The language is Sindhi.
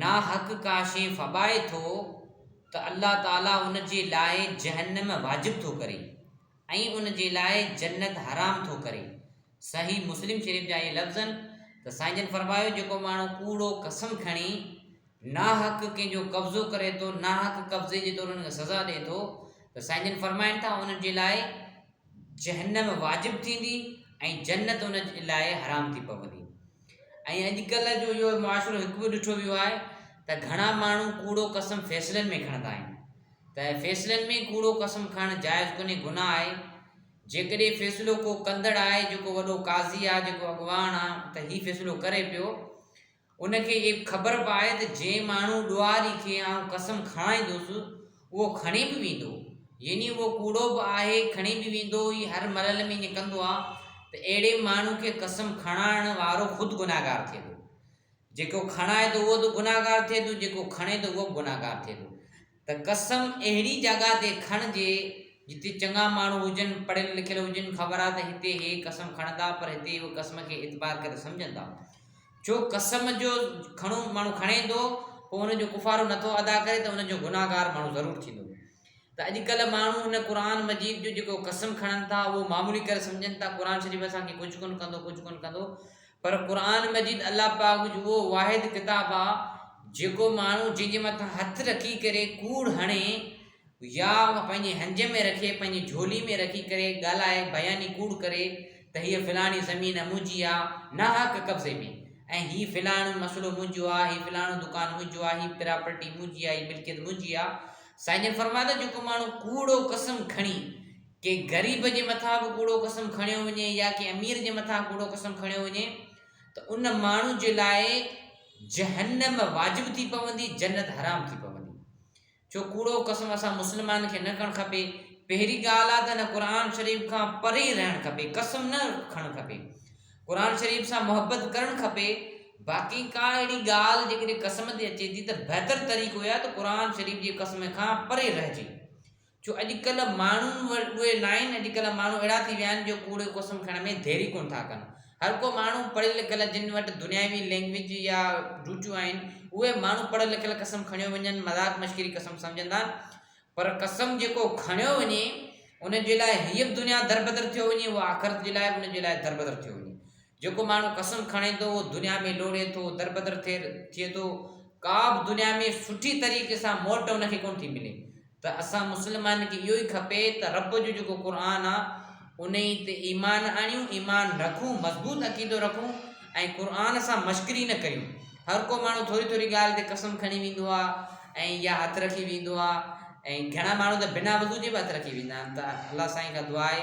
ناحق ڪا شيء ڦٻائي ٿو ته الله تعاليٰ ان جي لاء جهنم واجب ٿو ڪري ۽ ان جي لاء جنت حرام ٿو ڪري صحيح مسلم شريف جا اهي لفظ آهن ته سائين جن فرمايو جيڪو ماڻهو ڪوڙو قسم کڻي ناحق ڪنهن جو قبضو ڪري ٿو ناحق قبضي جي طور ان کي سزا ڏئي ٿو ته سائين جن فرمائن ٿا ان جي لاء جهنم واجب ٿيندي ۽ جنت ان لاء حرام ٿي پوندي ۽ اڄڪلهه جو اهو معاشرو هڪ به ڏٺو ويو آهي ته گهڻا ماڻهو ڪوڙو قسم فيصلن ۾ کڻندا آهن ته فيصلن ۾ ڪوڙو قسم کڻڻ جائز ڪونهي گناهه آهي جيڪڏهن فيصلو ڪو ڪندڙ آهي جيڪو وڏو قاضي آهي جيڪو اڳواڻ آهي ته هي فيصلو ڪري پيو ان کي اهي به خبر به آهي ته جنهن ماڻهو ڏوهاري کي آئون قسم کڻائيندس، اهو کڻي به ويندو. يعني اهو ڪوڙو به آهي، کڻي به ويندو هي هر ملل ۾ ائين ڪندو آهي ته اهڙي ماڻهو کي قسم کڻائڻ وارو خود گنهگار ٿئي ٿو. جيڪو کڻائي ٿو اهو ته گنهگار ٿئي ٿو، جيڪو کڻي ٿو اهو به گنهگار ٿئي ٿو. ته قسم اهڙي جڳهه تي کڻجي جتي چڱا ماڻهو هجن، پڙهيل لکيل هجن، خبر آ ته هتي هي قسم کڻندا پر هتي هو قسم کي اعتبار ڪري سمجهندا. ڇو قسم جو کڻو ماڻهو کڻي ٿو پوء ان جو ڪفارو نه ٿو ادا ڪري ته ان جو گنهگار ماڻهو ضرور ٿيندو. ته اڄڪلهه ماڻهو ان قرآن مجيد جو جيڪو قسم کڻن ٿا اهو معمولي ڪري سمجهن ٿا، قرآن شريف اسان کي ڪجهه ڪونه ڪندو ڪجهه ڪونه ڪندو پر قرآن مجيد الله پاڪ جو اهو واحد ڪتاب آهي جيڪو ماڻهو جنهن جي مٿان هٿ رکي ڪري ڪوڙ هڻي يا پنهنجي هنج ۾ رکي پنهنجي جهولي ۾ رکي ڪري ڳالهائي بياني ڪوڙ ڪري ته هيء فلاڻي زمين منهنجي آهي ناحق قبضي ۾ ۽ هي فلاڻو مسئلو منهنجو آهي هي فلاڻو دڪان منهنجو آهي هي پراپرٽي منهنجي آهي هي ملڪيت منهنجي آهي سائين جن فرمايو ته جيڪو ماڻهو ڪوڙو قسم کڻي ڪنهن غريب جي مٿان به ڪوڙو قسم کڻيو وڃي يا ڪنهن امير جي مٿان ڪوڙو قسم کڻيو وڃي ته ان ماڻهو جي لاء جهنم واجب ٿي پوندي جنت حرام ٿي پوندي جو ڪوڙو قسم اسان مسلمان کي نه کڻ کپي پهري ڳالهه آ ته نه قرآن شريف کان پري رهڻ کپي قسم نه کڻ کپي قرآن شريف سان محبت ڪرڻ کپي باقي ڪا اهڙي ڳالهه جيڪڏهن قسم تي اچي ٿي ته بهتر طريقو آ ته قرآن شريف جي قسم کان پري رهجي جو اڄڪلهه ماڻهن وٽ اهي ناهن، اڄڪلهه ماڻهو اهڙا ٿي ويا آهن جو ڪوڙيو قسم کڻڻ ۾ دير ئي ڪونه ٿا ڪن. هر ڪو ماڻهو پڙهيل لکيل جن وٽ دنياوي لئنگويج يا روچون آهن، اهي ماڻهو پڙهيل لکيل قسم کڻيو وڃن مذاق مشڪري قسم سمجهندا آهن، پر قسم جيڪو کڻيو وڃي ان جي لاء هيء به دنيا دربدر ٿيو وڃي اهو آخرت جي لاء به ان جي لاء دربدر ٿيو وڃي، جيڪو ماڻهو قسم کڻي ٿو اهو دنيا ۾ لوڙهي ٿو، دربدر ٿئي ٿئي ٿو، ڪا به دنيا ۾ سٺي طريقي سان موٽ ان کي ڪونه ٿي ملي ته اسان مسلمانن کي اهو ئي کپي ته رب جو جيڪو قرآن آ انهي تي ايمان آڻيون، ايمان رکون، مضبوط عقيدو رکون ۽ قرآن سان مشڪري نه ڪريون، هر ڪو ماڻهو ٿوري ٿوري ڳالهه تي قسم کڻي ويندو آ ۽ يا هٿ رکي ويندو آ ۽ گهڻا ماڻهو ته بنا وضو جي به هٿ رکي ويندا آهن ته الله سائين کان دعا آهي